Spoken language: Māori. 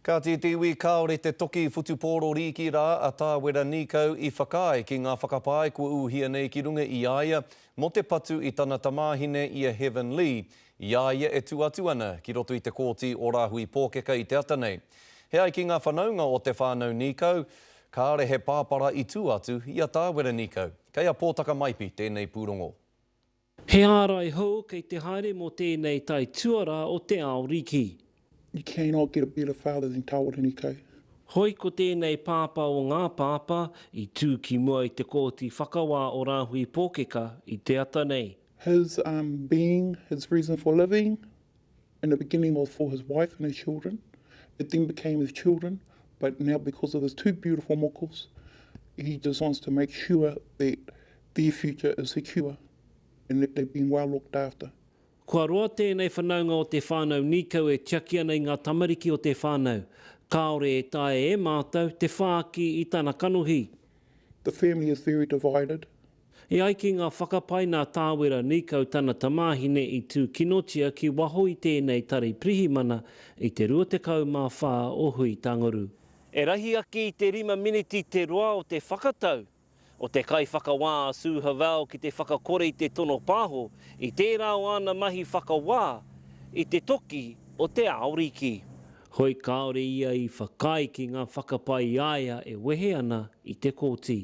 Kāti te iwi kāore te toki whutupōro rīki rā a Tā Wera Nīkau i whakaae ki ngā whakapae kua ūhia nei ki runga i a ia mō te patu i tana tamāhine i a Heaven Lee i a ia e tū atu ana ki roto i te Kōti o Rāhui Pōkeka i te ata nei. He ai ki ngā whanaunga o te whānau Nīkau, kāore he pāpara i tū atu i a Tā Wera Nīkau. Kei a Pōtaka Maipi tēnei pūrongo. He ārai hou kei te haere mō tēnei tae tuarā o te ao riki. You cannot get a better father than Kawarini Kay. Hoi ko tēnei pāpā o ngā pāpā i tū ki mua i te Kōti Whakawā o Rāhui Pōkeka i te ata nei. His um being, his reason for living, And the beginning was for his wife and his children, it then became his children, but now because of his two beautiful mokos, he just wants to make sure that their future is secure and that they've been well looked after. Kua roa tēnei whanaunga o te whānau nīkau e tiaki ana i ngā tamariki o te whānau. Kāore e taea e mātou te whāki i tana kanohi. The family is very divided, E ai ki ngā whakapae nā Tāwera Nīkau tana tamāhine i tūkinotia ki waho i tēnei tari pirihimana i te 24 o Huitanguru. E rahi ake i te rima miniti te roa o te whakatau o te kaiwhakawā a Sue Havel ki te whakakore i te tono pāho i tērā o āna mahi whakawā i te toki o te Aoriki. Hoi kāore ia i whakaae ki ngā whakapae i a ia e wehe ana i te kōti.